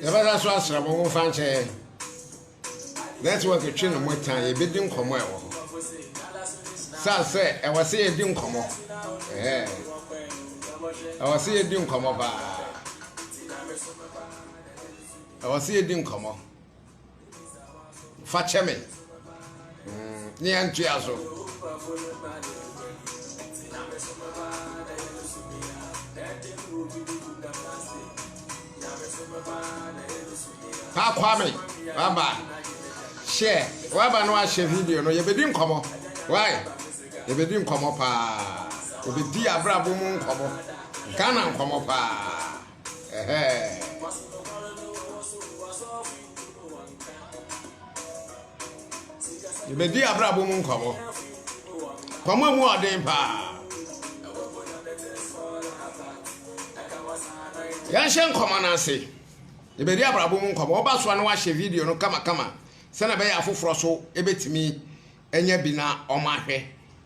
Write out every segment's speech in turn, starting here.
yɛbɛsa so asra mo mo fa nkyɛ yɛn network twe ne mo tan yɛbɛdi nkɔmmɔ ɛwɔ hɔ sa sɛ ɛwɔ sɛ yɛdi nkɔmmɔ ɛwɔ sɛ yɛdi nkɔmmɔ paa ɛwɔ sɛ yɛdi nkɔmmɔ fa kyɛ me mm, ne yɛntoa so Pa Kwame, waba. Share. Waba no ahyɛ video no. Yɛbɛdi nkɔmɔ. Why? Yɛbɛdi nkɔmɔ paa. Yɛbɛdi abrabɔ mu nkɔmɔ. Ghana nkɔmɔ paa. yɛbɛdi abrabɔ mu nkɔmmɔ kɔmmɔ mu ɔden paa yɛnhyɛ nkɔmmɔ no ase yɛbɛdi abrabɔ mu nkɔmmɔ woba soa no wahyɛ video no kamakama sɛnea ɛbɛyɛ afoforɔ so ɛbɛtumi anya bi na ɔma ahwɛ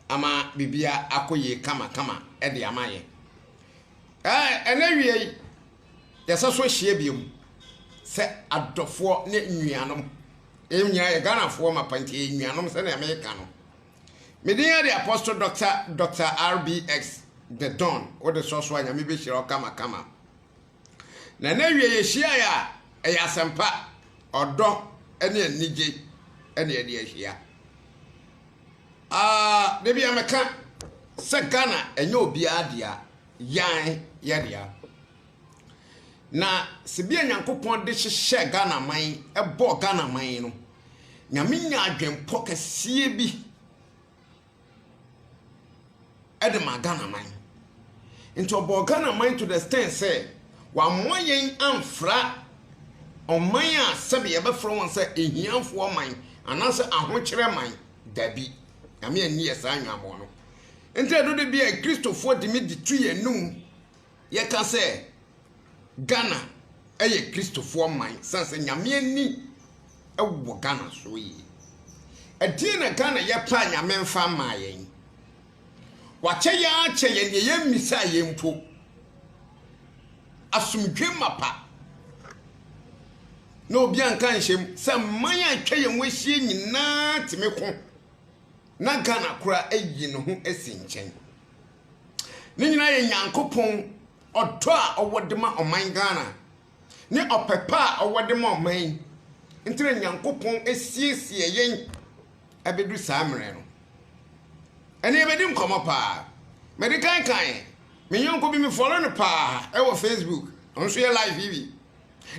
ama biribia akɔ yie kamakama de ama yɛ Ɛɛ, ɛnnɛ wia yi, yɛsɛ so hyia biom sɛ adɔfoɔ ne nnuanom. Yɛn nyinaa yɛ Ghanafoɔ mapa nti yɛ nnuanom sɛnea meka no. Me din yɛ de Apostle Dɔkta Dɔkta RBX The Don. Wode sɔ so a Nyame bɛhyira wo kamakama. Na ɛnnɛ wia yɛhyiaeɛ a ɛyɛ asɛmpa, ɔdɔ ne anigye ɛne ɛde ahyia. Aah da bia me ka sɛ Ghana ɛnyɛ obiara dea, yan yɛ dea. Na se bia Nyankopɔn de hyehyɛɛ Ghana man, ɛbɔɔ Ghana man no, Nyame nya adwenpɔ kɛseɛ bi. de maa Ghana man. Nti ɔbɔɔ Ghana man to the extent sɛ wamoa yɛn amfra ɔman a sɛbe yɛbɛfrɛ wɔn sɛ ahiafoɔ man anaasɛ ahokyerɛ man. Dabi, Nyame anni yɛ saa anwammɔɔ no. Nti ɛno de bia Kristofoɔ de me de tu yɛn anum. Yɛka sɛ Ghana yɛ Kristofoɔ man sane sɛ Nyame ani wɔ Ghana so yie. Ɛdeɛn na Ghana yɛ paa Nyame mfa mmaa yɛn? Wakyɛ yɛn ara kyɛ yɛn deɛ yɛn mmisaa yɛn mpo. Asomdwe mapa na obi anka nhyɛm sɛ mman a atwa yɛn ho ahyia nyinaa tumi ko. na Ghana koraa ayi ne ho asi nkyɛn. Ne nyinaa yɛ Nyankopɔn ɔdɔ a ɔwɔ de ma ɔman Ghana ne ɔpɛ pa a ɔwɔ de ma ɔman yi nti na Nyankopɔn asiesie yɛn abɛdu saa mmerɛ no. Ɛne yɛbɛdi nkɔmmɔ paa. Mede kankan me yɔnko bi me follow no paa ɛwɔ Facebook. Ɔno nso yɛ live yi bi.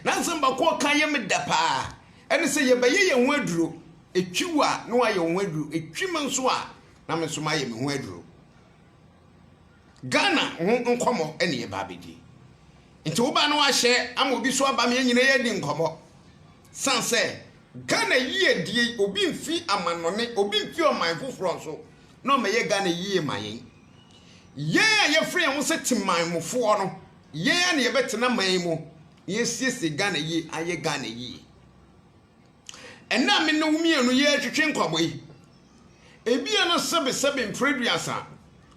Na nsɛm baako a ɔka yɛ me dɛ paa, ɛne sɛ, Yɛbɛyɛ yɛn ho aduro. Ɛtwi wo a, na woayɛ wo ho aduro. Ɛtwi me nso a, na me nso mayɛ me ho aduro. Ghana ho nkɔmmɔ ɛne yɛba abɛdi. Nti woba na wahyɛ ama obi so aba me nyina yɛadi nkɔmmɔ. San sɛ, Ghana yie die yi, obi mfi amannɔne, obi mfi ɔman foforɔ nso, na ɔmɛyɛ Ghana yie ma yɛn. Yɛn a yɛfrɛ yɛn ho sɛ temanmufoɔ no, Yɛn ara na yɛbɛtena man yi mu na yɛasiesie Ghana yie, ayɛ Ghana yie. Ɛnnɛ a me ne wo mmienu yɛretwetwe nkɔmmɔ yi, ebia na sɛbesɛbe mfiri aduasa,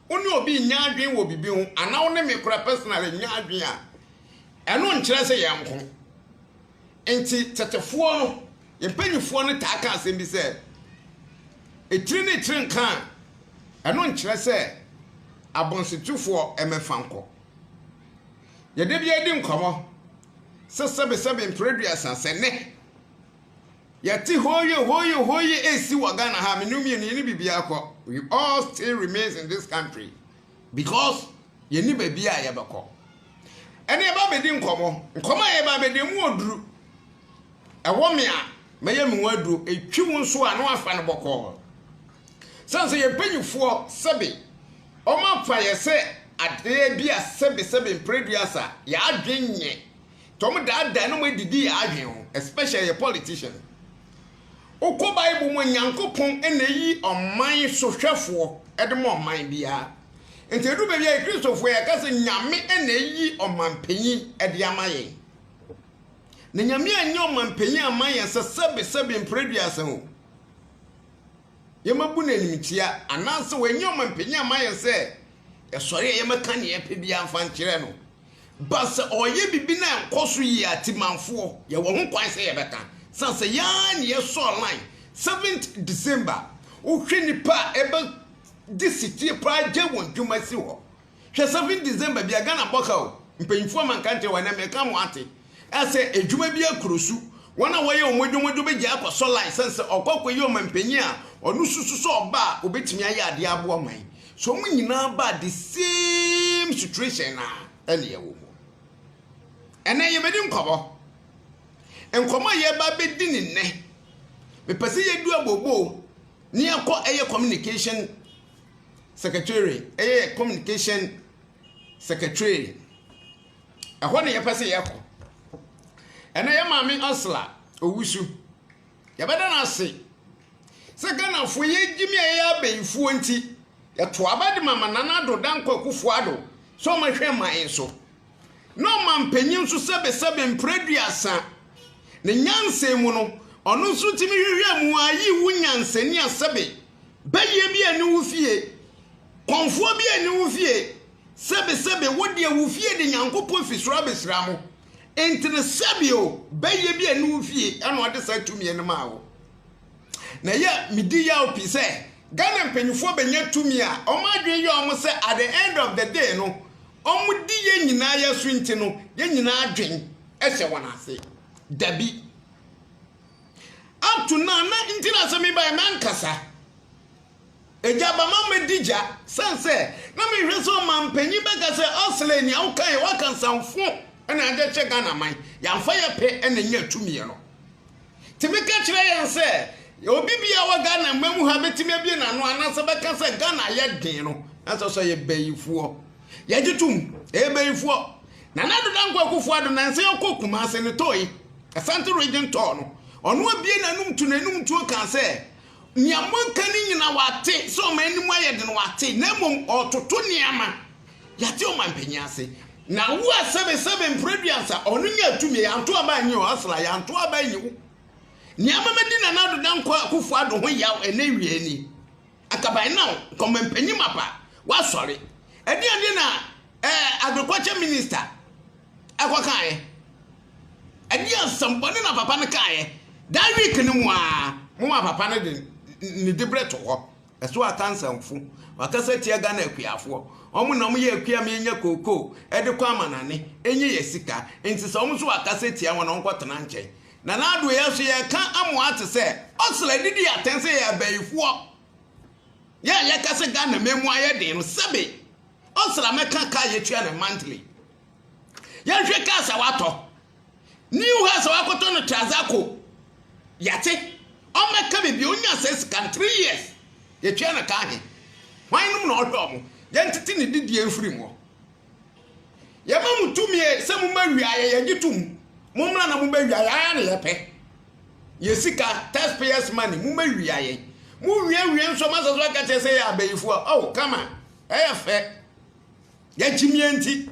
wo ne obi nyɛ adwene wɔ biribi ho, anaa wo ne me kora personally nyɛ adwene a, ɛno nkyerɛ sɛ yɛn nko. Nti tetefoɔ no, yɛn mpanimfoɔ no taa ka asɛm bi sɛ, etiri ne etiri nka a, ɛno nkyerɛ sɛ abɔnsetufoɔ mmɛfa nkɔ. Yɛde bi adi nkɔmmɔ sɛ sɛbesɛbe mfere aduasa sɛ nnɛ yɛte hooyo hooyo hooyo ɛsi wɔ Ghana ha mene mmienu yɛne biribiara kɔ we all still remains in this country because yɛni baabi a yɛbɛkɔ ɛne ɛba bɛdi nkɔmmɔ nkɔmmɔ a yɛba bɛdi mu ɔduru Ɛwɔ me a, mɛyɛ me ho aduro, ɛtwi wo nso a, na wafa no bɔkɔɔ. Sɛne sɛ yɛn mpanimfoɔ sɛbe wɔafa yɛ sɛ adeɛ bi a sɛbe sɛbe mprɛ duasa yɛn adwene nyɛ, nti wɔdaadaa na wɔadidi yɛn adwene ho, especially yɛ politician. Wokɔ Bible mu a, Nyankopɔn na ɛyi ɔman sohwɛfoɔ de ma ɔman biara. Nti ɛdu baabi a yɛ Kristofoɔ yɛka sɛ Nyame na ɛyi ɔmanpanyin de ama yɛn. Na Nyame anyɛ ɔmampanyin amma yɛn sɛ sɛbe sɛbe mpere duasa o, yɛmɛbu no animtia, anaasɛ wɔanyɛ ɔmampanyin amma yɛn sɛ yɛsɔre a yɛmɛka nea yɛpɛ biara mfa nkyerɛ no. Ba sɛ ɔyɛ biribi na ɛnkɔ so yie a, Timanfoɔ, yɛwɔ ho kwan sɛ yɛbɛka. San sɛ yɛn ara na yɛsɔɔ line seventh December. Wohwɛ nnipa a ɛbɛgye setie paa gyae wɔn dwuma si hɔ Hwɛ seven December bia Ghana bɔ ka o mpanyinfoɔ ama nka nkyerɛ wɔn ɛnɛ meka mo ate ɛsɛ adwuma bia kuro su wɔn a wɔyɛ wɔn adwuma dwo bɛgyae akɔ sɔ line sɛn sɛ ɔkɔ akɔ yi ɔmanpanyin a ɔno susu sɛ ɔba a ɔbɛtumi ayɛ adeɛ aboa ɔman so wɔn nyinaa ba the same situation na ɛne ɛwɔ mu ɛnɛ yɛbɛdi nkɔmɔ nkɔmɔ a yɛba bɛdi ne nnɛ mepɛ sɛ yɛdu abobo ne yɛkɔ ɛyɛ communication secretary yɛ communication secretary ɛhɔ na yɛpɛ sɛ yɛkɔ ɛnɛ yɛ maame asla owusu yɛbɛda no ase sɛ ghanafoɔ yɛgye me a yɛyɛ abɛyifoɔ nti yɛto aba de mama nana ado dankɔ akufoɔ ado sɛ ɔmahwɛ man so na ɔma mpanyin nso sɛbesɛbe mprɛ duasa ne nyansa mu no ɔno nso tumi hwehwɛ mu a yi wo nyansani a sɛbe Bayie bi anni wo fie. Kɔmfoɔ bi anni wo fie. Sɛbesɛbe, wo deɛ wo fie de Nyankopɔn fi soro abɛhyira mo. Enti no, sɛbe o, bayie bi anni wo fie ɛna ɔde saa tumiɛ no maa wo. Na ɛyɛ a medi yaw pii sɛ Ghana mpanyinfoɔ bɛnya tumi a wɔn adwene yɛ wɔn sɛ at the end of the day no, wɔdi yɛn nyinaa yɛ so nti no, yɛn nyinaa adwene hyɛ wɔn ase. Dabi. Up to now na nti na sɛ mebaeɛ mankasa. Agya aba ma mɛdi gya. Sane sɛ na mehwɛ sɛ ɔmanpanyin bɛka sɛ Osley nea wokaeɛ woaka nsamfo na agya hyɛ Ghana man yɛamfa yɛ pɛ na ɛnya tumiɛ no. Nti meka kyerɛ yɛn sɛ obi biara wɔ Ghana man mu ha bɛtumi abie n'ano anaasɛ bɛka sɛ Ghana yɛ den no na sɛ sɛ ɔyɛ bayifoɔ. Yɛgye tom, Ebeyifoɔ, Nana Addo Dankwa Akuffo Addo nansa yi ɔkɔɔ Kumase no tɔɔyi, Asante Region tɔɔ no, ɔno abue n'anom tu n'anom ntuo kaa sɛ, Nea moaka no nyina wate, sɛ ɔman anim ayɛ den wate, na mmom ɔɔtoto nneɛma, yɛate ɔmanpanyin ase. Na wo a sɛbe sɛbe Mprɛduansa, ɔno nyaa tumi, yɛanto aba anyi o, Hustler, yɛanto aba anyi wo, nea ama madi Nana Addo Dankwa Akuffo Addo ho yaw ɛnɛ wiɛ ni. Acaban now nkɔmpanyin mapa wasɔre ɛdeɛn nti na ɛɛ agriculture minister ɛkɔ kaeɛ ɛdeɛn nsɛmbɔne na papa no kaeɛ that week no mu aa mo ma papa no de ne dibrɛ to hɔ ɛso akansanfo wakasa tia Ghana akuafoɔ wɔn na wɔn yɛ akua mi nya kookoo ɛde kɔ amanane enye yɛ sika nti sɛ wɔn nso wakasa tia wɔn na wɔn kɔ tena nkyɛn Nana Addo yɛn nso yɛka amoa te sɛ ɔsra de di atɛn sɛ yɛyɛ abayifoɔ. Yɛn a yɛka sɛ Ghana man mu ayɛ den no sɛbe ɔsra mɛka kaa yɛtua no monthly. Yɛnhwɛ cars a watɔ. New house a wakɔtɔ no Trazako. Yɛate. Ɔmmɛka me bio ɔnya sɛ sika no three years. Yɛtua no ka he. Hwan nom na ɔhwɛ ɔmo? Yɛntete ne didie mfiri mu hɔ. Yɛma mo tumi ɛ, sɛ mo ma wiaɛ, yɛgye tom. Mo mmra na mo bɛ wiaɛ, ara na yɛpɛ. Yɛ sika, taxpayers money, mo ma wiaɛ. Mo wie wie nso mo asɛ so aka kyɛ sɛ yɛ abayifo a, oh, come on, ɛyɛ fɛ. Yɛkyim yɛ nti.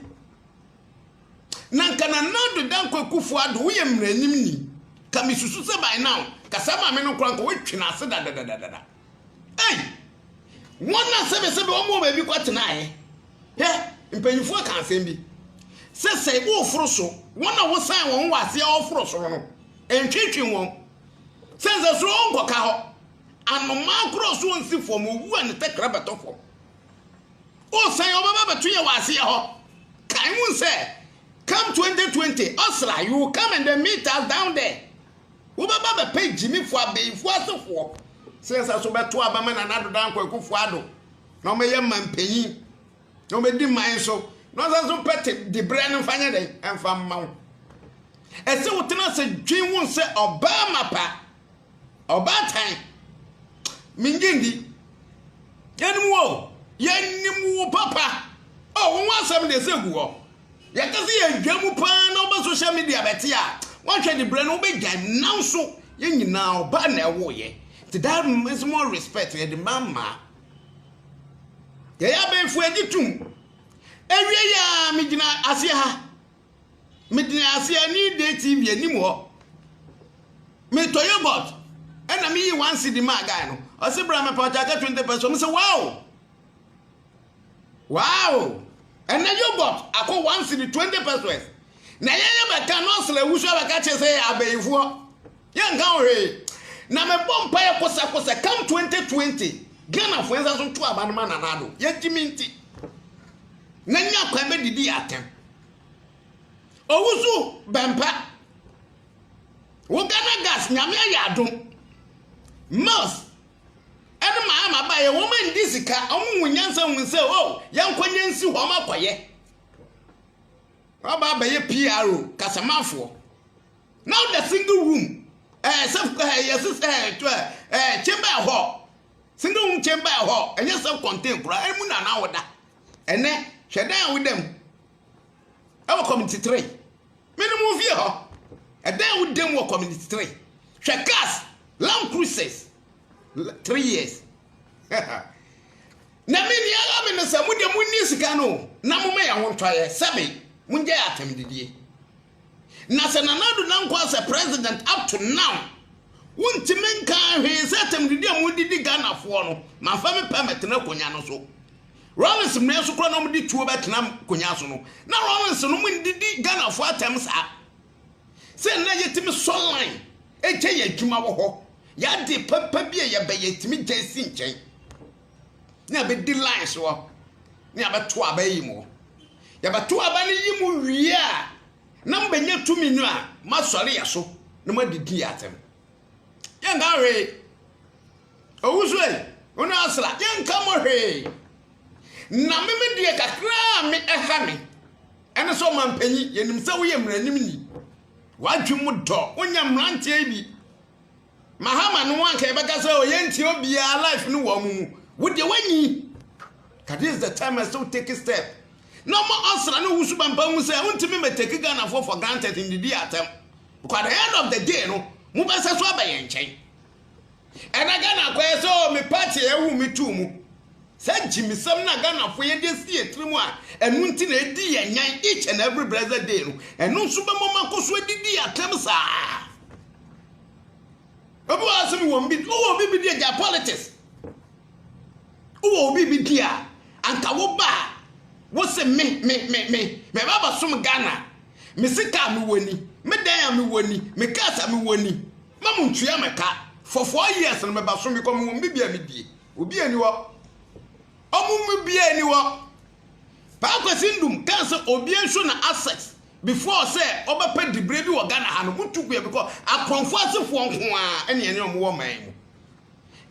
Na nka na Nado Dankwa Kufo Ado, woyɛ mmaranim ni. Ka me susu sɛ by now, kasa maame no koraa nka wɔatwi no ase dadadadada. Ei! Wɔn a sɛbɛsɛbɛ wɔn wɔ baabi kɔtenaeɛ. Hwɛ, mpanimfoɔ ka asɛm bi sɛ sɛ woforo so, wɔn a wosan wɔn wɔ aseɛ wɔforo soro no, ntwentwe wɔn. Sɛ nsɛ soro wɔnkɔka hɔ. Anomaa korɔ so nsi fam, owu a ne tɛkrɛ bɛtɔ fam. Wosan wɔbɛba bɛto yɛ wɔ aseɛ hɔ. Kae mu sɛ, come 2020, ɔsra, you will come and then meet us down there. Wobɛba bɛpɛ Gyimifo abenfo asefoɔ sɛ yɛnsa so bɛto aba ma Nana Ado Dankwa Akufo Addo na wɔbɛyɛ manpanyin na wɔbɛdi man so na wɔnsa so pɛ te dibrɛ no mfa nyɛ dɛn ɛmfa mma wo. Ɛsɛ wotena ase dwen wo sɛ ɔbaa mapa, ɔbaa tan. Mengye ndi. Yɛnim wo, yɛnim wo papa. Oh, wo ho asɛm deɛ ɛsɛ gu hɔ. Yɛka sɛ yɛredwa mu paa na woba social media bɛte a, woanhwɛ de berɛ no wobɛgyae. Nanso yɛn nyinaa ɔbaa na ɛwoeɛ. Nti that means more respect yɛde ma mmaa. Yɛyɛ abɛɛfo agye tom. Ewie yɛ a megyina aseɛ ha. Megyina aseɛ ne Day TV anim hɔ. Metɔ yogurt ɛna meyi one cedi maa guy no. Ɔse bra mepɛ ɔkyɛ aka 20 pɛ so. Ɔmo sɛ wow. Wow! Ɛnɛ yogurt akɔ one cedi twenty pesos. Na yɛn yɛ bɛka nurse la wusu abɛka kyerɛ sɛ abayifoɔ yɛn nka ho hwee. Na mebɔ mpaeɛ kosɛkosɛ come twenty twenty Ghanafoɔ yɛn nsa so nto aba no ma Nana Addo yɛgye me nti na nya kwan bɛdidi atɛm. Owusu bɛmpa wo Ghana gas nyame ayɛ adom Mills Ɛno maa ma baeɛ wɔn ndi sika, wɔn hu nyansa hu sɛ o yɛnkɔ nyɛ nsi hɔ wɔn akɔyɛ. Waba abɛyɛ PRO kasamanfoɔ. Now the single room ɛɛ eh, sɛ ɛɛ eh, yɛsi sɛ eh, ɛɛ ɛɛ chamber ɛhɔ single room chamber ɛhɔ ɛnyɛ sɛ contain koraa ɛmu na anaa wɔda ɛnɛ hwɛ dan a woda mu ɛwɔ community three. Me ne mo mfie hɔ. Ɛdan wo dam wɔ community three. Hwɛ cars, Land Cruisers, three years. na me nea ɛyɛ me ne sɛ mo de mo nni sika no na mo ma yɛ ho ntɔyɛ sɛbe mo ngya yɛ atɛm didie. Na sɛ Nana Addo Dankwa as a president up to now wontumi nka hwee sɛ atɛm didie a mo didi Ghanafoɔ no manfa me pɛ mɛtena akonnwa no so. Rawlings mmea nso kora na wɔn de tuo bɛtena nkonyaa so no na Rawlings nom ndidi Ghana foɔ atɛm saa sɛ nnɛ yɛtumi sɔ line ɛgya yɛ adwuma wɔ hɔ yɛ ade papa bi a yɛbɛ yɛtumi gya si nkyɛn ne abɛdi line so hɔ ne abɛto aba yi mu yɛbɛto aba no yi mu wie a na mbɛnya tumi no a masɔre yɛ so na madidi yɛ atɛm yɛnka hwee Owusoɛr, hɔn asera yɛnnka mo hwee, na me me deɛ kakra a me ɛha me ɛne sɛ ɔmanpanyin, yɛnim sɛ woyɛ mmaranimni, w'adwene mu dɔ, wonyɛ mmeranteɛ bi, Mahama no anka yɛbɛka sɛ ɔyɛ ntia obiara life no wɔ wɔn mu, wo deɛ wanyi, ka this is the time ɛsɛ wo take step, na ɔma ɔsra no wusu bampa hu sɛ wontumi mɛ take Ghanafoɔ for granted ndidi atɛm, because at the end of the day no, mobɛsɛ so aba yɛn nkyɛn. Ɛna Ghana akɔyɛ sɛ oh me party a ɛwo me too mu. Sɛ gyimisɛm na Ghanafoɔ yɛde asi yɛn tiri mu a ɛno nti na ɛdi yɛn nyan each and every blessed day no, ɛno nso bɛma ɔmo akɔ so adidi yɛn atɛm saa. Obi wɔ asɛm wɔ bi, wowɔ obi bi di agya politics. Wowɔ obi bi di a, anka wo ba a, wo se me, me, me, me, me ba bɛsom Ghana, me sika a mewɔ ni, me dan a mewɔ ni, me cars a mewɔ ni. Ma mo ntua me ka for four years no me ba so me kɔ me wɔ me bia me die obia ni hɔ ɔmo mu bia ni hɔ paa kwasi ndum kan sɛ obia nso na access before sɛ ɔbɛ pɛ dibre bi wɔ Ghana ha no mo tu kuya because akɔnfo asefoɔ nko a ɛne ɛne ɔmo wɔ man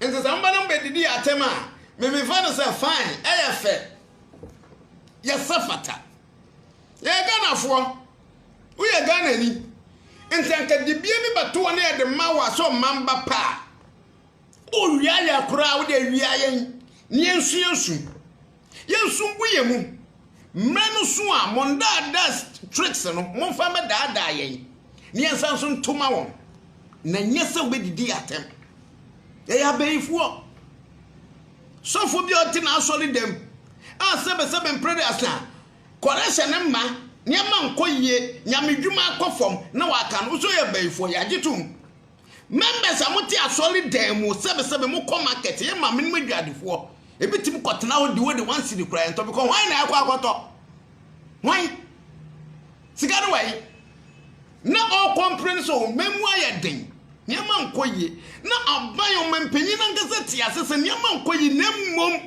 mu nti sɛ mbɛ na mbɛ didi yɛ atɛm a me me fa no sɛ fine ɛyɛ fɛ yɛ sɛ fata yɛ Ghanafoɔ Woyɛ Ghanani nti anka dibea bi bɛto hɔ na yɛde ma wo a sɛ ɔman ba pa a owia yɛ koraa wode awia yɛn ne yɛnsua nsu yɛnsu ngu yɛn mu mmerɛ no so a mo ndaadaa tricks no momfa mmɛdaadaa yɛn ne yɛnsa nso ntoma wɔn na nyɛ sɛ wobɛdidi atɛm ɛyɛ abɛyifoɔ sɔfo bi a ɔte n'asɔre dɛm a sɛbɛsɛbɛ mpere de asa Kɔrɛ sɛ ne mma nneɛma nkɔ yie, nyamedwuma akɔ fam na waka no so yɛ bayifoɔ, yɛagye tom. Members a mote asɔre dan mu, sɛbesɛbe mokɔ market, yɛ maame nom adwadifoɔ, ebi tumi kɔtena hɔ di wode one cedi koraa yɛntɔ bcɔ hwan na ɛkɔ akɔtɔ? Hwan? Sika no wai? Na ɔɔ complain sɛ ɔman mu ayɛ den, nneɛma nkɔ yie, na aban ɔmanpanyin no ankasa te ase sɛ nneɛma nkɔ yie na mmom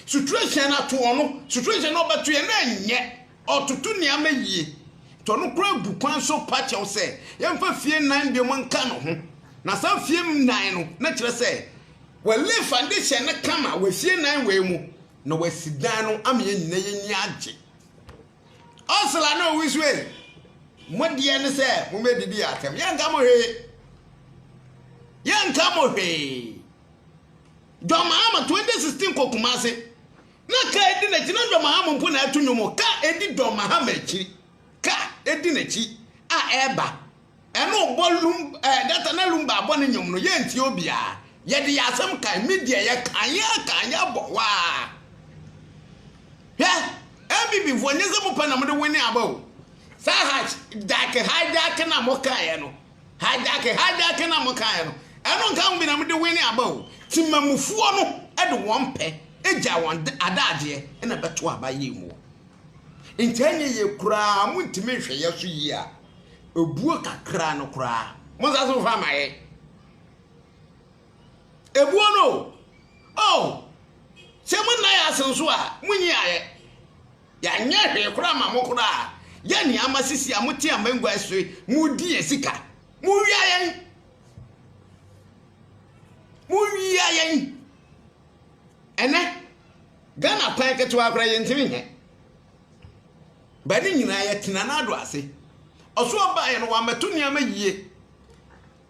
Suturehyɛn no ato ɔno. Suturehyɛn no ɔbɛto yɛn na ɛnyɛ. Ɔtoto nneɛma yie. Nti ɔno koraa gu kwan so pa kyɛw sɛ yɛmfa fie nnan biom nka no ho. Na saa fie nnan no na kyerɛ sɛ w'alay foundation no kama wɔ fie nnan wei mu na w'asi dan no ama yɛn nyinaa yɛn ani agye. Ɔsela na owi so ei. Mo deɛ ne sɛ mo mɛ didi yɛ atɛm. Yɛnka mo hwee. Yɛnka mo hwee. John Mahama 2016 kɔ Kumasi na kaa edi n'akyi na John Mahama mpo na ɛto nnwom kaa edi John Mahama akyi kaa edi n'akyi a ɛreba ɛna ɔbɔ lum ɛɛ data na lumba abɔ ne nnwom no yɛn ti obiara yɛde yɛ asɛm kan media yɛ kan yɛ kan yɛ bɔ waa hwɛ ɛbibi fo nyɛ sɛ mo pɛ na mo de wene aba o saa ha jack hijack na mo kaa yɛ no. Hijacking, hijacking a mokaeɛ no, ɛno nka ho bi na mode wene aba o. Temamufoɔ no de wɔn pɛ gyaa wɔn adagyeɛ na ɛbɛto aba yei mu. Nti ɛnyɛ yie koraa montumi nhwɛ yɛ so yie a, ɛbuo kakra no koraa monsa so mfa ma yɛ. Ɛbuo no o, oh, sɛ monna yɛ ase nso a, monyi ayɛ. Yɛanyɛ hwee koraa amma mo koraa. Yɛ nea ama sisi a mote amangua yi so yi, modi yɛn sika. Mowia yɛn! Mowia yɛn! Ɛnɛ, Ghana kwan ketewa koraa yɛntumi nyɛ. Bɛ ne nyinaa yɛtena n'ado ase. Ɔso ɔbaeɛ no, wammɛto nneɛma yie.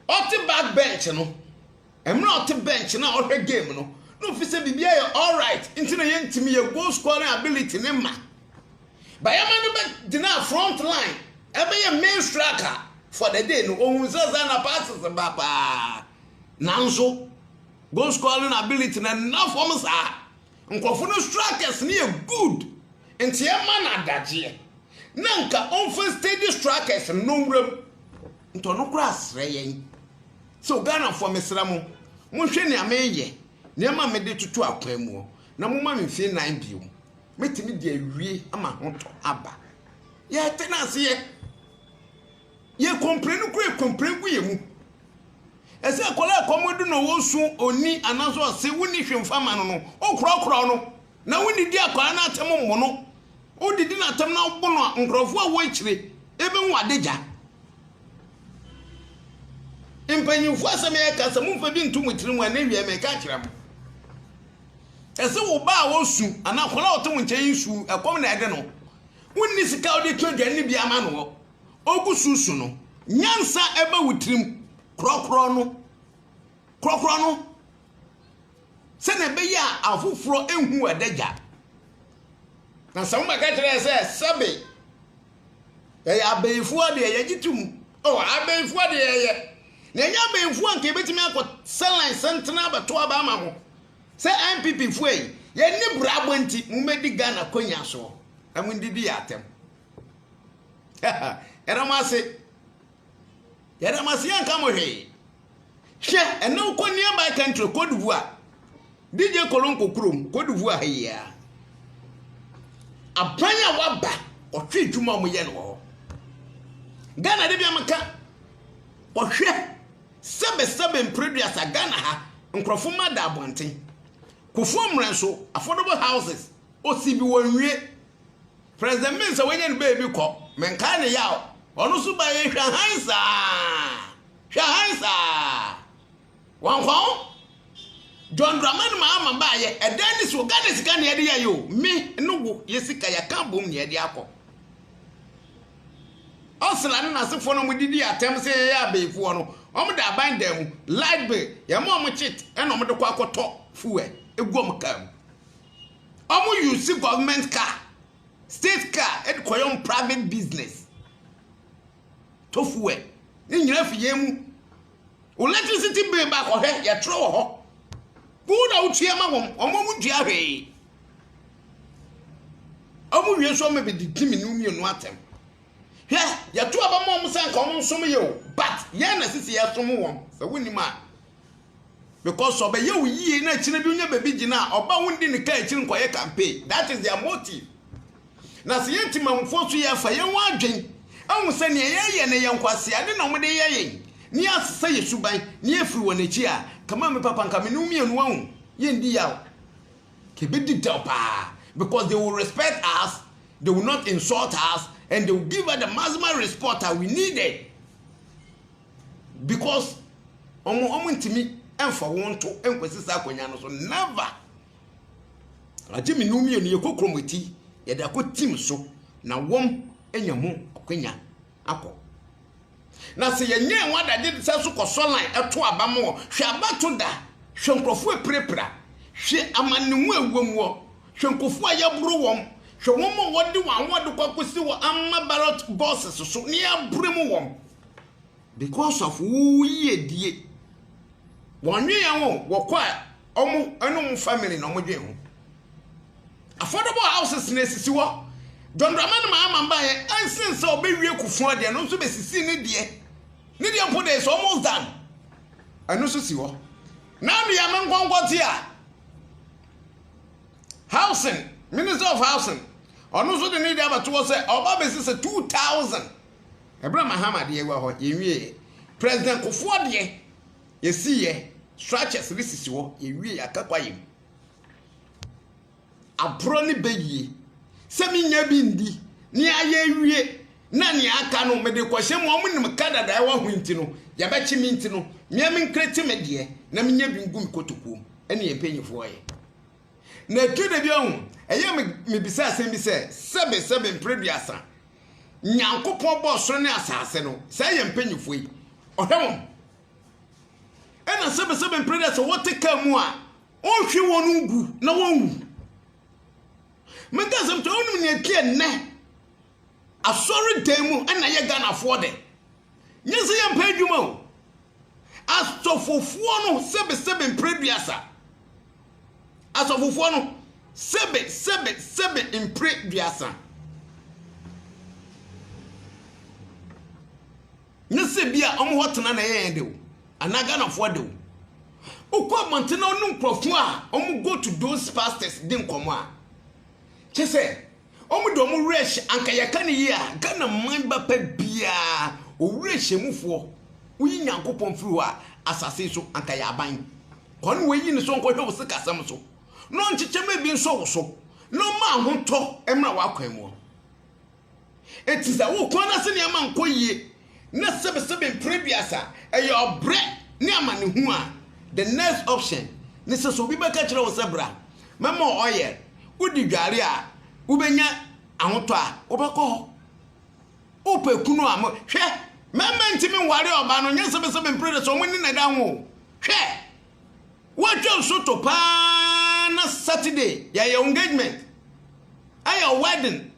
Ɔte back bench no, mmerɛ a ɔte bench no a ɔhwɛ game no, na ofi sɛ biribiara yɛ alright nti na yɛntumi, yɛ goal scoring ability no mma. Ba yɛma no bɛgyinaa front line, ɛbɛyɛ main striker for the day no, ohun sɛ saa na passes ba paa. Nanso, goal scoring ability no ɛnna fam saa. Nkurɔfo no strikers no yɛ good nti ɛma no adagyeɛ. Na nka ɔmfa steady strikers no nwura mu. Nti ɔno koraa srɛ yɛn sɛ o Ghanafoɔ mesrɛ mo, monhwɛ nea meyɛ, nneɛma a mede toto akwan mu hɔ, na momma me mfie nnan bio. Mɛtumi de awie ama ahotɔ aba. Yɛte no ase yɛ. Yɛ kɔmpire no kura kɔmpire gu yɛ mu. Ɛsɛ akwadaa a kɔm adu na ɔwɔ su ɔnni anaasɛ ɔse wonni hwee mfa ma no no, wokorɔkorɔ no. na wonnidi akwaa no atɛm mmɔ no. Wodidi no atɛm na wɔbɔ no a, nkurɔfoɔ a ɛwɔ akyire bɛhu adagya. Mpanyinfoɔ asɛm yɛka sɛ momfa bi nto mo tiri mu ɛnɛ wia meka akyerɛ mo. Ɛsɛ wo ba a ɔsu anaa akwadaa a ɔte wo nkyɛn yi su ɛkɔm na ɛde no. Wonni sika a wode to aduane no bi ama no ɔgu su su no. Nyansa ɛba wo tirim korɔkorɔ no korɔkorɔ no sɛnea ɛbɛyɛ a afoforɔ nhu w'adagya na sɛ wobɛka kyerɛ sɛ sɛbe ɛyɛ abɛnfoɔ deɛ yɛgye tom ɔ oh, abɛnfoɔ deɛ yɛyɛ na ɛnyɛ abɛnfoɔ nka yɛbɛtumi akɔ sɛlan sɛntena abɛto aba ama ho sɛ npp foɔ yi yɛne brabɔ nti mommɛdi ghana kɔnya soɔ na mondidi yɛ atɛm yɛdam ase yɛdam ase yɛnka mo hwee Hwɛ ɛne wo kɔ nearby country Cote d'Ivoire. DJ Kolonko kurom Cote d'Ivoire ha yi ara. Aban a waba ɔhwɛ adwuma a wɔyɛ no wɔ hɔ. Ghana de bi a meka ɔhwɛ sɛbɛsɛbɛ mpreduasa Ghana ha nkurɔfo ma da abɔnten. Kofoɔ mmerɛ nso affordable houses osi bi wɔnwie President Mensah wanya ne baabi kɔ, menkae ne yaw, ɔno nso baeɛ hwɛ hann saa, hwɛ hann saa. Wankwaw, John Dramani Mahama baeɛ, ɛdan ne soɔ, Ghana sika nea ɛde yɛayɛ o, me ne wo yɛ sika yɛaka abom nea ɛde akɔ. Ɔsla ne n'asefoɔ na wɔdidi atɛm sɛ yɛyɛ abayifoɔ no, wɔda aban dan mu, light bill, yɛma wɔn kyit ɛna wɔde kɔ akɔtɔ fuel gu wɔn kaa mu. Ɔmo use government car, state car ɛde kɔ yɛ ɔmo private business. To fuel. Ne nyinaa fi yɛn mu. Electricity bill ba kɔhwɛ yɛtwerɛ wɔ hɔ. Wo na wotua ma wɔn, wɔn ɔmo ntua hwee. Ɔmo wie nso ɔmo bɛdi ti mmienu mmienu atɛm. Hwɛ yɛto aba ma ɔmo sɛ nka ɔmo nsom yɛ o but yɛn na sisi yɛsom wɔn sɛ wonim a Because ɔbɛyɛ wo yie na akyire bi wonya baabi gyina a, ɔba wo ndi ne kaa akyiri nkɔyɛ campaign. That is their motive. Na sɛ yɛn Temanmufoɔ nso yɛfa yɛn ho adwen ahu sɛ nea yɛyɛ no yɛ nkwaseade na wɔde yɛ yɛn na yɛasesa yɛn suban na yɛafiri wɔn akyi a, come on me papa nka me ne wo mmienu wahu, yɛndi yaw. Yɛbɛdi dɛw paa because they will respect us, they will not insult us and they will give us the maximum respect a we needed. Because wɔn wɔn ntumi mfa wɔn nto nkwasi saa akonnwa no so never. Agye mmienu mmienu yɛ kɔ kurom ti yɛde akɔ team so na wɔn anya ho akonnwa akɔ. Na sɛ yɛnyɛ wɔn adagye de sɛ so kɔ sɔ line ɛto aba mu hwɛ abato da hwɛ nkurɔfoɔ apirapira hwɛ amanemu ɛwɔ mu hwɛ nkurɔfoɔ a yɛboro wɔn hwɛ wɔn a wɔde wɔn awɔde kɔ akɔsi wɔ ama barrot bosses so ne yɛabrɛ mu wɔn. because of wo yiedie wɔn nweɛ ho wɔkɔ a ɔmo ɛne ɔmo family na ɔmo dwen ho affordable houses na esisi hɔ dɔndɔnma no maa mamba yɛ ɛnsen sɛ ɔbɛwie kufuo deɛ no nso bɛsisi ne deɛ ne deɛ mpo deɛ is almost done ɛno nso si hɔ na nua me nkɔnkɔ te a housing minister of housing ɔno nso de ne deɛ abɛto hɔ sɛ ɔba bɛsi sɛ two thousand. Ɛberɛ a Mahama deɛ agua hɔ, yɛnwieɛ. President Kufuor deɛ, yɛsiiɛ, structures no sisi hɔ, yɛnwieɛ, yɛaka kwaeɛ mu. Aborɔ ne bɛyie sɛ menya bi ndi na yɛayɛ awie na nea aka no mede kɔhyɛ mu, wɔn nim ka dada ɛwɔ ho nti no, yɛbɛkye me nti no, mmea me nkreti me deɛ na menya bi ngu me kotokuo mu, ɛne yɛn mpanyifoɔ yɛ. Na ɛtɔ da bi ahu, ɛyɛ mebisa asɛm bi sɛ, sɛbe sɛbe mpere duasa, Nyankopɔn bɔɔ soro ne asaase no, saa yɛ mpanyimfoɔ yi, ɔhwɛ wɔn. Ɛna sɛbɛsɛbɛ mpere dɛ sɛ wɔte kaa mu a, ɔnhwe wɔn ngu na wɔnwu. Mɛka asɛm kyerɛ wo, wonim nea ɛti ɛnnɛ asɔredan mu ɛna yɛ Ghanafoɔ dɛ. Nyɛ sɛ yɛmpɛ adwuma o. Asɔfofoɔ no sɛbɛsɛbɛ mpere duasa. asɔfofoɔ no sebe sebe sebe mpire duasa ne se bi a wɔn hɔ tena na ɛyɛ yɛn dew anaa ghanafoɔ dew wokɔ abɔnten na wɔn nkurɔfoɔ a wɔn go to those pastors di nkɔmɔ a kyɛ sɛ Wɔn de wɔn werɛ hyɛ anka yɛka no yie a Ghana man ba pɛ biara ɔwerɛhyɛmufoɔ woyi Nyankopɔn firi hɔ a asase so anka yɛ aban kwa na wɔyi no sɛ ɔnkɔhwɛ wo sikasɛm so na ɔnkyekyɛ ma ebi nsɔ wo so na ɔma ahotɔ mmra w'akwan mu. Enti sɛ wo kwan no ase nneɛma nkɔ yie na sɛbesɛbe mpere aduasa. Ɛyɛ ɔbrɛ ne amanehunu a, the next option ne sɛ, sɛ obi bɛka kyerɛ wo sɛ bra, mɛma wo oil, wodi dware a, wobɛnya ahotɔ a, wobɛkɔ hɔ. Wopɛ kunu a, mo, hwɛ, mɛma ntimi nware ɔbaa no, nyɛ sɛbesɛbe mpere aduasa, wɔn ne na ɛda ho. Hwɛ, wɔatwa nso to paa na Saturday, yɛyɛ engagement, ɛyɛ wedding.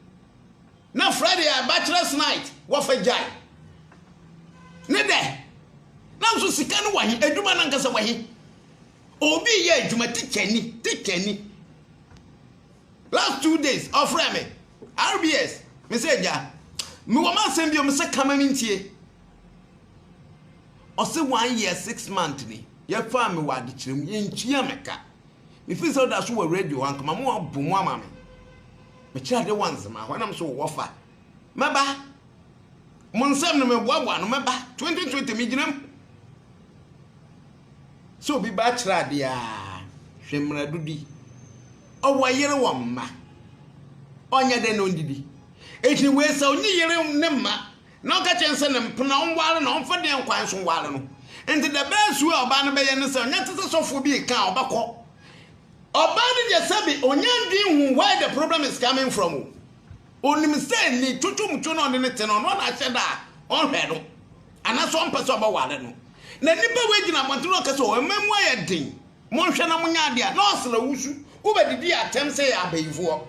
Na Friday a bachelor's night wɔfa gyae ne dɛ nanso sika no wɔ he adwuma no ankasa wɔ he obi yɛ adwuma tikyani tikyani last two days ɔfrɛ me rbs me sɛ agya mewɔ ma asɛm bio me sɛ kama me ntie ɔse one year six month ni yɛfaa me wɔ adekyerɛ mu yɛntua me ka Me firi sɛ da so wɔ radio hɔ ankama mo abo mo ama me me kyerɛ ade wɔ nzema hɔ ɛna mo so wɔ fa mɛba mo nsɛm no mɛboaboa no mɛba 2020 me gyina mu sɛ obi ba akyerɛ adeɛ a hwɛ mmerɛdo di ɔwɔ yere wɔ mma ɔnyɛ dɛ na ɔndidi ɛti wei sɛ ɔnye yere ne mma Na ɔka kyerɛɛ no sɛ ne mpena ɔnware na ɔmfa deɛn kwan so nware no. Enti the best way a ɔbaa no bɛyɛ ne sɛ ɔnyɛ te sɛ sɔfoɔ bi reka a ɔbɛkɔ. Ɔbaa no deɛ sɛbe ɔnya ndwen hu where the problem is coming from o. Ɔnim sɛ ni twotwomtwo no a ɔne no te no ɔno na ahyɛ da a ɔnhwɛ no anaasɛ ɔmpɛ sɛ ɔbɛware no. Na nipa wei gyina abɔnten na ɔka sɛ o ɛma mu ayɛ den monhwɛ na monya adeɛ a na ɔsra wusu wobɛdidi atɛm sɛ yɛ abayifoɔ.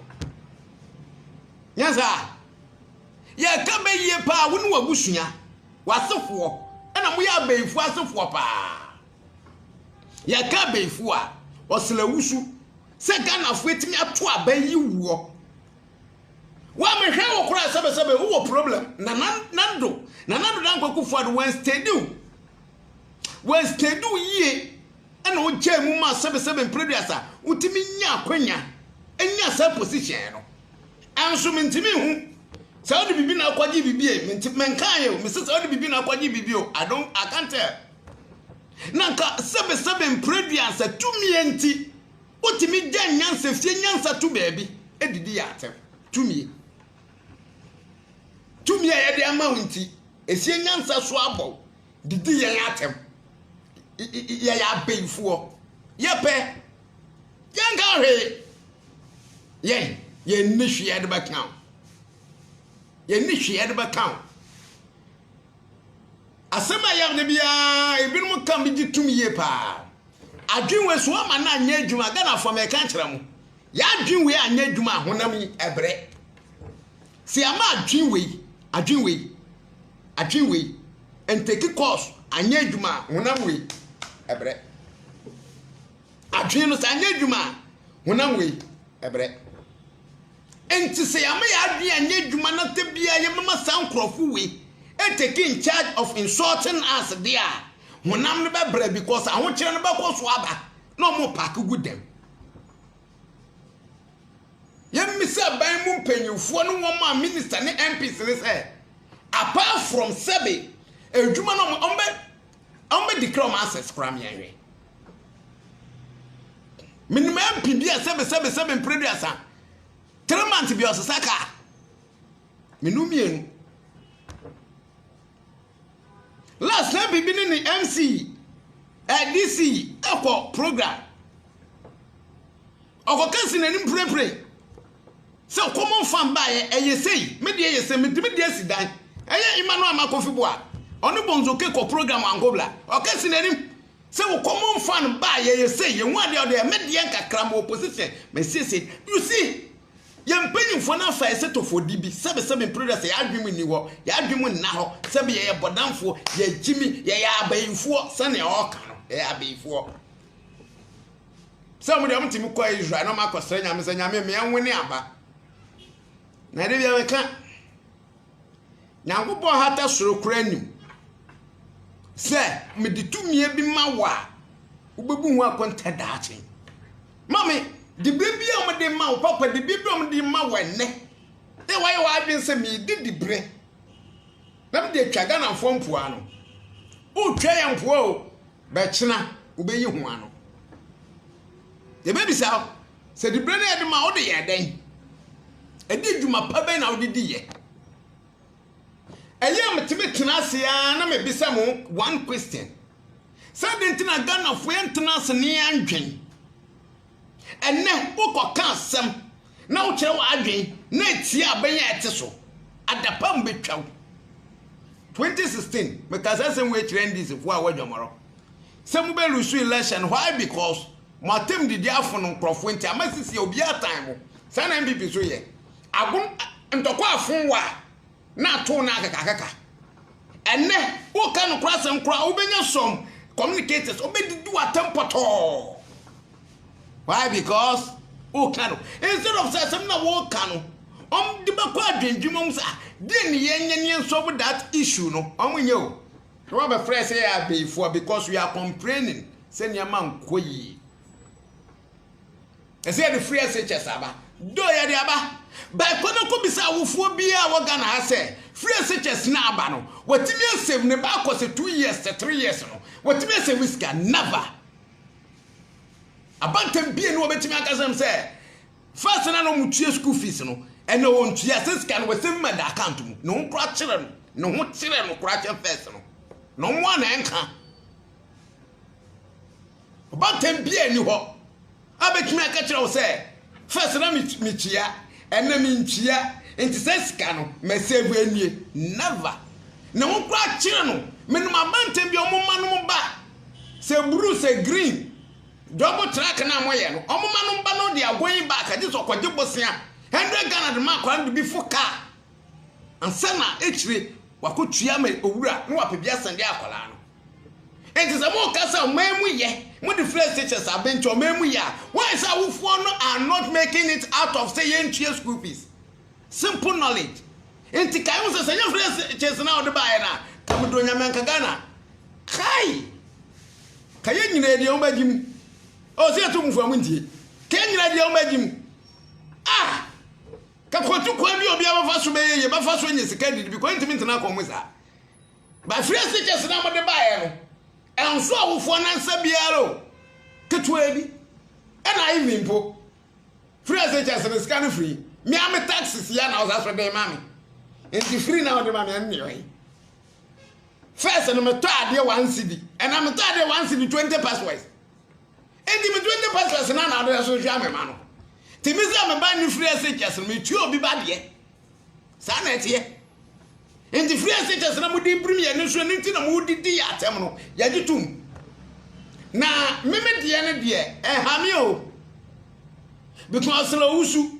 Nyɛ saa? Yɛka bɛ yie paa, wo ne w'abusua, w'asefoɔ, ɛna moyɛ abɛyifoɔ asefoɔ paa. Yɛka abɛyifoɔ a, ɔsla wusu sɛ Ghanafoɔ atumi ato abɛn yi wuɔ. Wɔamehwɛ wo koraa sɛbɛsɛbɛ wowɔ problem na nando na nando na nkwakufoɔ ade wɔnstedi wo wɔnstedi wo yie ɛna wogyaa mu ma sɛbɛsɛbɛ mprɛduasa wotumi nya akwanya nya saa position no Nso mentumi nhu sɛ wode biribi na akɔgye biribi e mente menkaeɛ o mese sɛ wode biribi na akɔgye biribi o I don't I can't tell na nka sɛbesɛbe mprɛdua sɛ tumie nti wotumi gya nyansa fie nyansa to baabi edidi yɛ atɛm tumie tumie a yɛde ama wo nti esie nyansa so abɔ didi yɛn atɛm yɛyɛ abeyifoɔ yɛpɛ Yɛnka hwee. Yɛn, yɛnni hwee yɛde bɛka wo. Yɛnni hwee yɛde bɛka wo. Asɛm a yɛm no biara, ebinom ka me gye tom yie paa. Adwene wei so ama no anyɛ adwuma. Ghanafoɔ mɛka kyerɛ mo. Yɛadwene wei anyɛ adwuma a honam yi ɛbrɛ. Sɛ yɛama adwene wei, adwene wei, adwene wei, ntɛki kɔɔso anyɛ adwuma a honam wei ɛbrɛ. Adwene no, sɛ anyɛ adwuma a, honam wei brɛ. Enti sɛ yɛama yɛn adwene anyɛ adwuma na ta biara yɛbɛma saa nkurɔfo wei take in charge of insulting us deɛ a, honam no bɛbrɛ because ahokyerɛ no bɛkɔ so aba na wɔn paake gu dɛm. Yɛmmisa aban mu mpanyinfoɔ ne wɔn a minister ne MPs ne sɛ, apart from sɛbe adwuma no wɔn bɛ Ɔmo bɛ declare ɔmo access koraa me anhwɛ. Menim MP bi a sɛbe sɛbe sɛbe mpreduasa. Three months bi ɔsesa kaa. Menu mmienu. Last na bibi ne ne MC, eh, DC ɛkɔ program. Ɔkɔka si n'anim pirapirai sɛ common farm baeɛ ɛyɛ sei me deɛ yɛ sei metumi de asi dan ɛyɛ Emmanuel ama kofi boa ɔne bonzo ke kɔ program ankobla ɔka si n'anim sɛ wo common farm baeɛ yɛ sei yɛ hu adeɛ ɔdeɛ me deɛ nkakra mo opposition mesiesie you see yɛ mpanyinfoɔ no afa ɛsɛ tofo di bi sɛbe sɛbe mpreda sɛ yɛ adwene mu nni hɔ yɛ adwene mu nna hɔ sɛbe yɛyɛ bɔdamfoɔ yɛ gyimi yɛyɛ abayifoɔ sɛnea ɔka no yɛyɛ abayifoɔ sɛ ɔmo deɛ ɔmo tumi kɔ israel na ɔmo akɔsrɛ nyame sɛ nyame mmea nwo ne aba na ɛde bia meka nyankopɔn hata soro kora anim sɛ mede tumie bi ma wo a wobɛbu ho akonta daakye ma me de bere bi a ɔmo de ma wo papa de bere bi a ɔmo de ma wo ɛnɛ na wayɛ w'adwene sɛ medi di bere na mede atwa ghanafoɔ mpoa no wotwa yɛ mpoa o Bɛkyena, wobeyi ho ano. Yɛbɛbisa wo, sɛ diberɛ no a yɛde ma wode yɛɛ dɛn? Ɛde adwuma pa bɛn na wode di yɛ? Ɛyɛ a metumi tena ase ara na mebisa mo one question, sɛ adɛn nti na Ghanafoɔ yɛntena ase ne yɛndwen? Ɛnnɛ, wokɔka asɛm na wokyerɛ w'adwene na etia abɛn a ɛte so. Adapam betwa wo. 2016, Mekaa saa asɛm wei kyerɛɛ NDCfoɔ a wɔadwamarɔ sɛ mobɛlusu election. Why? Because mo atam didi afono nkurɔfoɔ nti ama sisi a obiara tan mo. Saa na NPP nso yɛ. Agono, ntɔkwa afon wo a, na atow no akekakeka. Ɛnnɛ, woka nokorɛ asɛm koraa, wobɛnya some communicators, wobɛdidi w'atɛm pɔtɔɔ. Why? Because woka no. Instead of sɛ asɛm na woka no, wɔn de bɛkɔ adwendwuma mu sɛ, ah, deɛ ne yɛn nyɛ ne yɛn solve that issue no, wɔn nyɛ o. Na wɔabɛfrɛ sɛ yɛ abayifoɔ because we are complaining sɛ nneɛma nkɔ yie. ɛsɛ yɛde free SHS aba do yɛde aba baako no kɔ bisa awofoɔ biara wɔ Ghana ha sɛ free SHS na aba no watumi asɛm ne ba akɔ sɛ two years sɛ three years no watumi asɛm ne sika never abantam bie no wɔbɛtumi akasɛm sɛ first na na wɔn tua school fees no ɛna wɔn tua sɛ sika no wɔsɛm ma da account mu na wɔn kora kyerɛ no ne ho kyerɛ no kora kyɛ first no na wɔn a na ɛnka Ɔbaatan biara nni hɔ a bɛtumi aka kyerɛ wo sɛ fɛs na metua ɛnɛ mentua nti sɛ sika no mɛsɛvu anwie never ne ho koraa kyerɛ no menom abanten bi ɔmo ma nom ba sɛ blue sɛ green dɔbo track no a moyɛ no ɔmo ma nom ba no de agoyi baaka gye sɛ ɔkɔgye bosea hundred ghana de ma akora no de bi fo kaa ansa na akyire wakɔtua ma owura na wapɛ bi asɛnde akwadaa no Enti sɛ moka sɛ ɔman mu yɛ, mode flares te kyerɛ sɛ abe nti ɔman mu yɛ a, why sɛ awofoɔ no are not making it out of sɛ yɛntua school fees? Simple knowledge. Enti kae ho sɛ, sɛ ɛnyɛ flares te kyerɛ sɛ na wode baeɛ no a, ka medɔ Nyame anka Ghana. Kai! Ka yɛn nyinaa deɛ ɔma gyim. Ɔwɔ sɛ yɛto mufo a montie. Ka yɛn nyinaa deɛ ɔma gyim. Ah! Ka kɔtu kwan bi a obiara bɛfa so bɛyɛ yie, bɛfa so anya sika didi, because ntumi ntena akɔn mu saa. Bɛfrɛɛ stikɛs no a mode baeɛ no ɛnso awofoɔ no nsa biara o, ketewa bi ɛna Ivy mpo frɛɛ stikɛs no sika no firi me a me tax sia na ɔsa so de ma me nti firi na ɔde ma me ɛne ɔyi first no metɔ adeɛ one cd ɛna metɔ adeɛ one cd twenty passwords nti me twenty passwords na na ɔde so hwɛ amema no nti me sɛ me ba ne firi stikɛs no metua obi ba deɛ saa na ɛteɛ nti free ase kyɛ sɛ na mode birim yɛ no nso ɛno nti na mode di yɛ atɛm no yɛgye tom na meme deɛ no deɛ ɛha me o because na owusu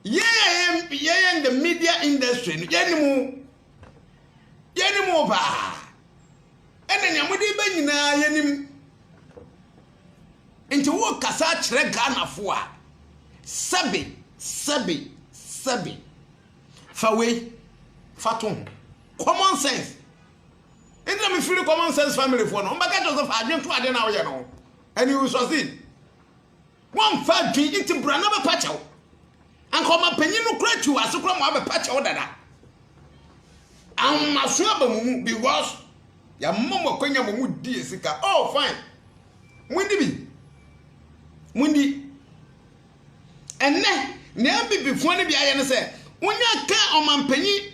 yɛyɛ yɛyɛ in the media industry no yɛne mu yɛne mu paa ɛna nea mode bɛ nyinaa yɛnim Nti wokasa kyerɛ Ghanafo a, sɛbe, sɛbe, sɛbe. Fa wei fa to ho. Common sense. Nti na mefiri common sense family foɔ no, mbɛka kyerɛ sɛ fa adwen to adeɛ no a woyɛ no ho. And you will succeed. Wɔmfa adwen nti bra na bɛpa kyɛw. Anka ɔmapanyin no kora twi wɔ ase kora ma wabɛpa kyɛw dada. Ahomaso aba mo mu because yɛama mo akwanya ma mo di yɛ sika. Oh fine. Mundi bi. Mundi. Ɛnɛ nea abibifoɔ no bi ayɛ no sɛ wonya ka ɔmampanyin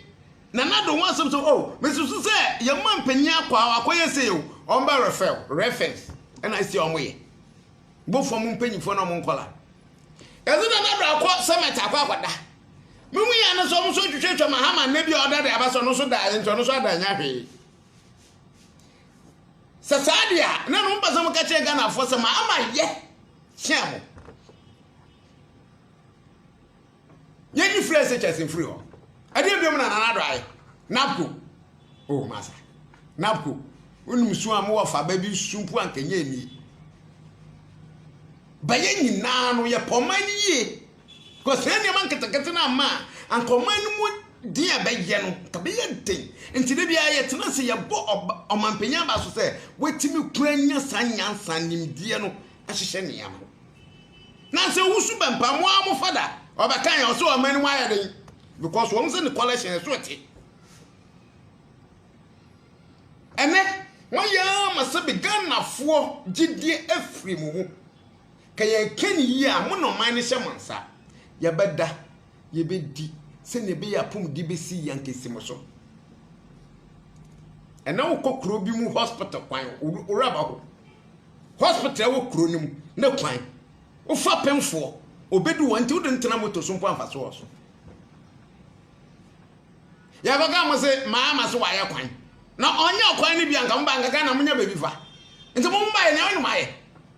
Nana Ado ho asɛm sɛ oh mesusu sɛ yɛn mampanyin akɔ a wakɔyɛ sei o wɔn bɛ refɛl reference ɛna asi a wɔyɛ bofoɔ mo mpanyinfoɔ na wɔn nkɔla. Ɛsɛ Nana Ado akɔ sɛmɛt akɔ akɔda. Mihu yɛ no sɛ ɔmo nso twitwatwa ma hama nnɛ bi a ɔda de aba sɛ ɔno nso da ayɛ nti ɔno nso ada nya hwee. Sɛ saa de a, na no mpɛ sɛ mo ka kyerɛ Ghanafoɔ sɛ ma ama yɛ kyea mo. Yɛnyi frɛ sɛ kyɛse mfiri hɔ. Ɛdeɛ biom na nana do ayɛ. Napco. Oh, masa. Napco. Wonim su a mowɔ fa ba bi su mpo anka nyɛ nie. Bɛyɛ nyinaa no yɛpɛ ɔman no yie. Because saa nneɛma nketenkete no ama a anka ɔman no mu den a bɛyɛ no anka bɛyɛ den nti da biara yɛtena ase yɛbɔ ɔmampanyin aba so sɛ watumi kura nya saa nyansa nimdeɛ no ahyehyɛ nneɛma na sɛ wusu bɛ mpa mo a mo fada ɔbɛka yɛn ɔsɛ ɔman no mu ayɛ den because wɔn sɛ ne collection ɛso ɛte ɛnɛ wɔn yɛ ama sɛ bi ghanafoɔ gyidie afiri mu mu. Ka yɛn kɛ no yie a, mo na ɔman no hyɛ mo nsa. Yɛbɛda, yɛbɛdi, sɛdeɛ ɛbɛyɛ a apɔmuden bɛsi yɛn ankesi mo so. Ɛnɛ wokɔ kuro bi mu hospital kwan, woraba hɔ, hospital wɔ kuro no mu, ne kwan, wofa pemfoɔ, ɔbɛdu hɔ nti wode ntena moto so mpo amfa so wɔ so. Yɛbɛka mo se maa ma so wayɛ kwan, na ɔnyɛ kwan no bi anka mo ba anka Ghana mo nya baabi fa. Nti mo mma yɛ nea ɔne mo ayɛ.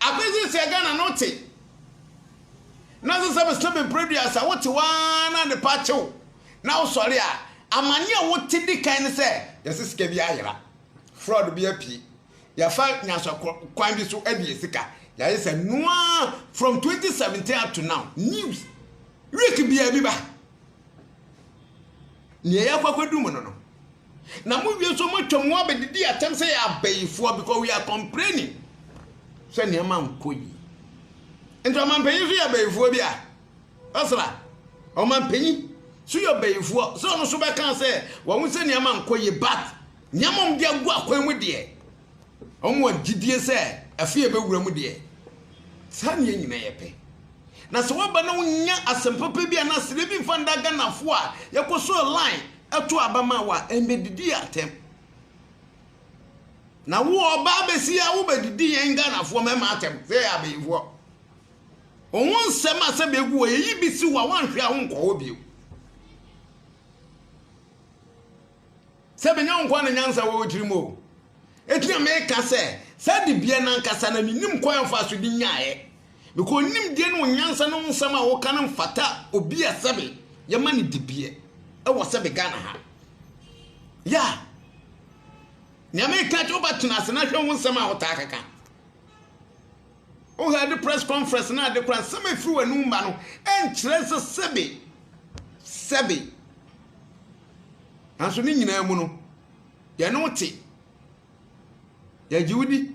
Afei seesei Ghana no te nanso sɛ mesrɛ bebree dua sɛ wote waa na adepa kyew na wosɔre a amane a wote di kan ne sɛ yɛse sika bi ayera fraud bi apue yɛfa nyansa kwan bi so abie sika yɛayɛ sɛ noa from 2017 up to now news week bia bi ba nea yɛakɔ akɔdu mu no no na mo wie nso moatwa mu abɛdidi atɛm sɛ yɛ abayifoɔ because we are complaining sɛ nneɛma nkɔ yi nti ɔmampanyin nso yɛ abayifoɔ bi a ɔsra ɔmampanyin so yɛ ɔbayifoɔ sɛ ɔno nso bɛka sɛ wɔn sɛ nneɛma nkɔ yi but nneɛma ɔmde agu akwan mu deɛ Wɔwɔ gyidie sɛ afe a ɛbɛwura mu deɛ, saa nneɛ nyinaa yɛ pɛ. Na sɛ woaba na wonnya asɛm papa bi anaa serɛ bi mfa nda Ghanafoɔ a yɛkɔ so line to aba ma wo a, ɛmmɛdidi yɛn atɛm. Na wo ɔba abɛsi a wobɛdidi yɛn Ghanafoɔ mmarima atɛm sɛ yɛ abeyifoɔ. Wo ho nsɛm a sɛ bɛgu hɔ yɛyi bi si hɔ a woanhwɛ a wonkɔ hɔ bio. Sɛ menya wo nkoa na nyansa wɔ wo tirim o. Enti na meka sɛ, saa dibea no ankasa na minnim kwan a ɔfaa so de nyaeɛ. Meka wo nimdeɛ ne wo nyansa ne wo nsɛm a woka no mfata obi a sɛbe yɛma no dibea wɔ sɛbe Ghana ha. Ya! Nea meka kyerɛ wo ba tena ase na hwɛ wo nsɛm a wotaa keka. Wohɛ de press conference na ade kora nsɛm a ɛfiri w'anum ba no ɛnkyerɛ sɛ sɛbe sɛbe Nanso ne nyinaa mu no, yɛne wo te. Yɛgye wo di.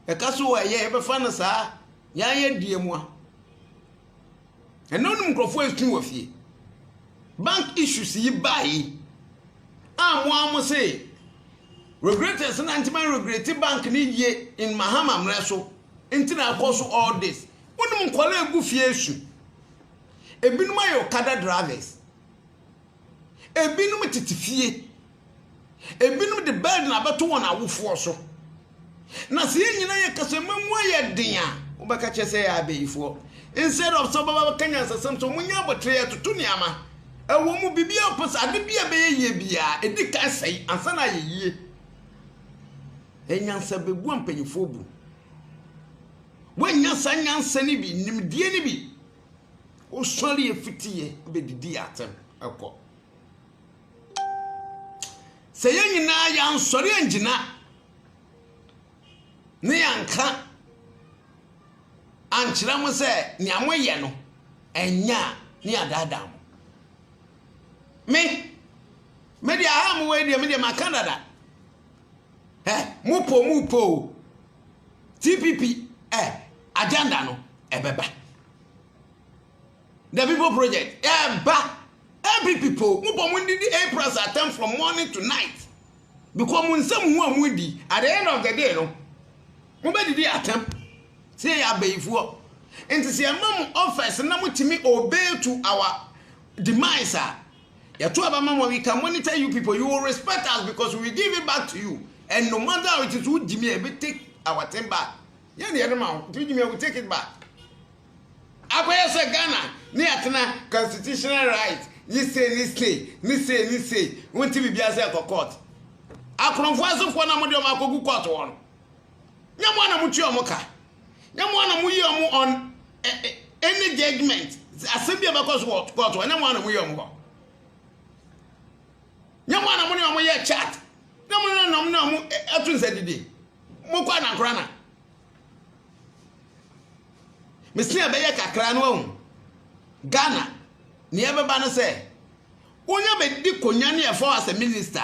Yɛka so wɔ ɛyɛ yɛbɛfa no saa yɛayɛ deɛ mu a. Ɛnna wonim nkurɔfoɔ ɛsu wɔ fie. Bank issues yi baa yi a mo a mo se regreters na ntoma regrete bank ne yie in Mahama mmerɛ so nti na akɔ so all this. Wonim nkɔla egu fie su. Ebinom ayɛ okada drivers. Ebinom tete fie. Ebinom de burden abɛto wɔn awofoɔ so. Na sɛ yɛn nyinaa yɛ kasama mu ayɛ den a, wobɛka kyerɛ sɛ yɛ abayifoɔ. Instead of sɛ wobɛba bɛka nyansasɛm sɛ wɔnyɛ abotire yɛtoto nneɛma. Ɛwɔ mu biribi a wopɛ sɛ ade bi a ɛbɛyɛ yie biara ɛdi kan sɛe ansa na ayɛ yie. Ɛnyansa bɛbu ampanimfoɔ bu. Woannya saa nyansa no bi, nimdeɛ no bi. Wosɔre yɛ fiti yɛ bɛdidi yɛ atɛm ɛkɔ. Sɛ yɛn nyinaa yɛ ansɔre angyina ne yɛ anka ankyerɛ mo sɛ nea mo yɛ no ɛnyɛ a ne adaadaa mo. Me me deɛ aha mo wɔ yi deɛ me deɛ maka dada. Ɛ mo po mo po o. TPP eh, agenda no ɛbɛba. The people project ɛba. Eh, Every people, mo bɔ mo ndidi April's attempt from morning to night. Because mo nsɛm ho a mo di, at the end of the day no, mo bɛ didi attempt. Sɛ yɛ abayifoɔ. Nti sɛ ɛma mo office na mo tumi obey to our demise a, Yɛto aba ma mo, we can monitor you people. You will respect us because we give it back to you. And no matter how it is, we Jimmy, we take our thing back. Yeah, the other man, we Jimmy, we take it back. Akwai say Ghana, ni atena constitutional rights. Ni say, ni say, ni say, ni say. Won't be biya say court. Akronfo asofo na mo de mo akogu court won. Nyamo na mo tuo mo ka. nyɛ mo ana mo yɛ mo on any judgment asɛm bi a bɛkɔ so wɔ court hɔ nyɛ mo ana mo yɛ mo hɔ nyɛ mo ana mo ne wɔn yɛ chat nyɛ mo ana mo ne wɔn ɛto nsa didi mo kɔ anankora na mesin a bɛyɛ kakra no ahu ghana nea ɛbɛba no sɛ wonya bɛdi konya ne ɛfɔ as a minister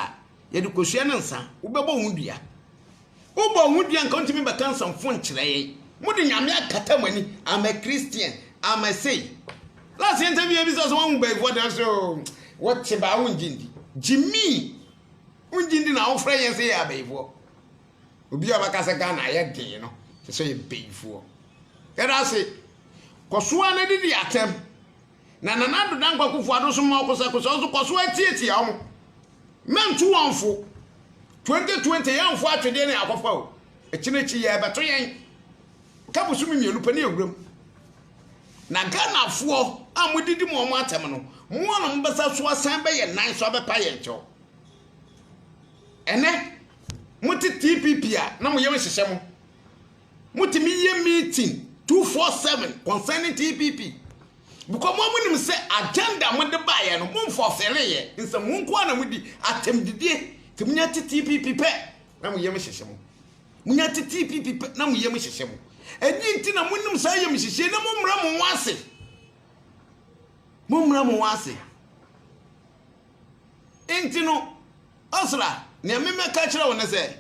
yɛde kosua ne nsa wobɛbɔ ho dua Wobɔ wo ho dua nka wontumi bɛka nsɛmfo nkyerɛ yɛn. Mode Nyame akata mo ani. I'm a Christian, I'm a sei. Last year interview yɛbisa sɛ woahu baabi wɔda so oo. Wote baa wongye ndi. Gyimi, wongye ndi na wofrɛ yɛn sɛ yɛ abayifoɔ. Obi a ɔbɛka sɛ Ghana ayɛ den no, kyerɛ sɛ yɛ bayifoɔ. Yɛda ase. Kɔ so ara na didi atɛm. na Nana Addo Dankwa Akufo-Addo nso ma ɔkosɛkosɛ nso kɔ so ara tiatia wɔn. Mɛnto wɔn mfo. 2020 yɛmfo atwedeɛ ne akɔfa o. Akyi no akyi yɛrebɛto yɛn. Ka bosome mmienu pɛ ne awuram. Na Ghanafoɔ a modidi mo wɔn atɛm no, mo ara na mobɛsa so asan bɛyɛ nan so abɛpa yɛn kyɛw. Ɛnɛ, mote TPP a na mo yam hyehyɛ mo. Motumi yɛ meeting two four seven concerning TPP because mo mo nim sɛ agenda mo de baayɛ no mo nfɔsere yɛ nsɛm mo nko ara na mo di atɛm didie ti mo nya ti TPP pɛ na mo yam hyehyɛ mo mo nya ti TPP pɛ na mo yam hyehyɛ mo ɛni nti na mo nim saa yam hyehyɛ na mo mra mo wase mo mra mo wase nti no ɔsra nea me mɛka kyerɛ wo ne sɛ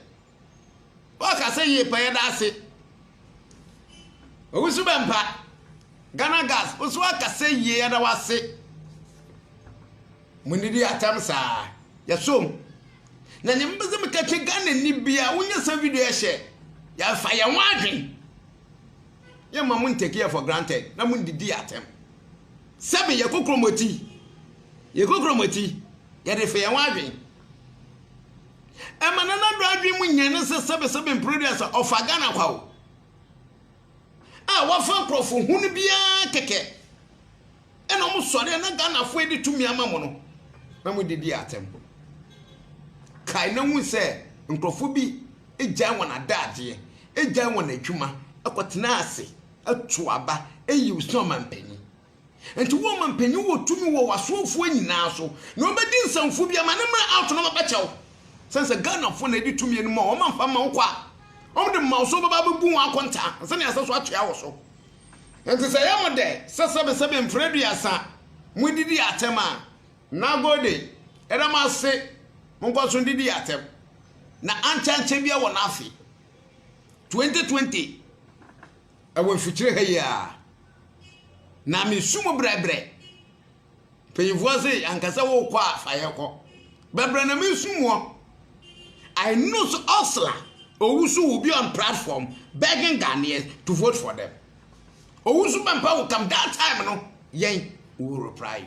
Ɔkasa yie pa yɛda ase. Owusu Bɛmpa, Ghana Gas wo nso akasa yie yɛda wo ase. Mo nidi atam saa yɛsom. Na nyɛ mbɛsɛ meka kyɛ Ghana ni bia wonyɛ sa video ɛhyɛ yɛfa yɛn ho adwen. Yɛ ma mo ntake yɛ for granted na mo ndidi atam. Sɛbi yɛ kokromoti yɛ kokromoti yɛde fa yɛn ho adwen. Ɛma Nana Addo adwene mu nya ne sɛ sɛbesɛbe mpere aduasa ɔfa Ghana kwa o. A wafa nkurɔfo hunu biara kɛkɛ. Ɛna wɔn sɔre a na Ghanafoɔ de tumi ama mo no na mo didi atɛm. Kae na hu sɛ nkurɔfo bi gyae wɔn adagyeɛ, gyae wɔn adwuma, kɔtena ase, ato aba, yiw sɛ ɔmampanyin. Enti wɔma mpanyin wɔ tumi wɔ w'asomfoɔ nyinaa so, na wɔbɛdi nsɛmfo bi ama ne mmerɛ ato na wɔabɛkyɛ wo. Sɛne sɛ Ghanafoɔ na ɛdi tumi no ma wɔn amfa mma wo kɔ a, wɔde ma wo so bɛba abɛbu wɔn akontaa ansa na yɛasɛ so akyea wo so. Enti sɛ ɛyɛ mo dɛ sɛ sɛbesɛbe mfrɛ aduasa modidi atɛm a, Nagode, yɛda mo ase, monkɔ so ndidi atɛm. Na ankyɛ ankyɛ biara wɔ n'afe 2020. Wɔ mfikyire ha yi ara, na mesu mu brɛbrɛ. Mpanyinfoɔ se anka sɛ wokɔ a fa yɛ kɔ. Brɛbrɛ na mesu muɔ. I know so Ursula Owusu will be on platform begging Ghanaians to vote for them. Owusu Bempa will come that time no yɛn we will reply you.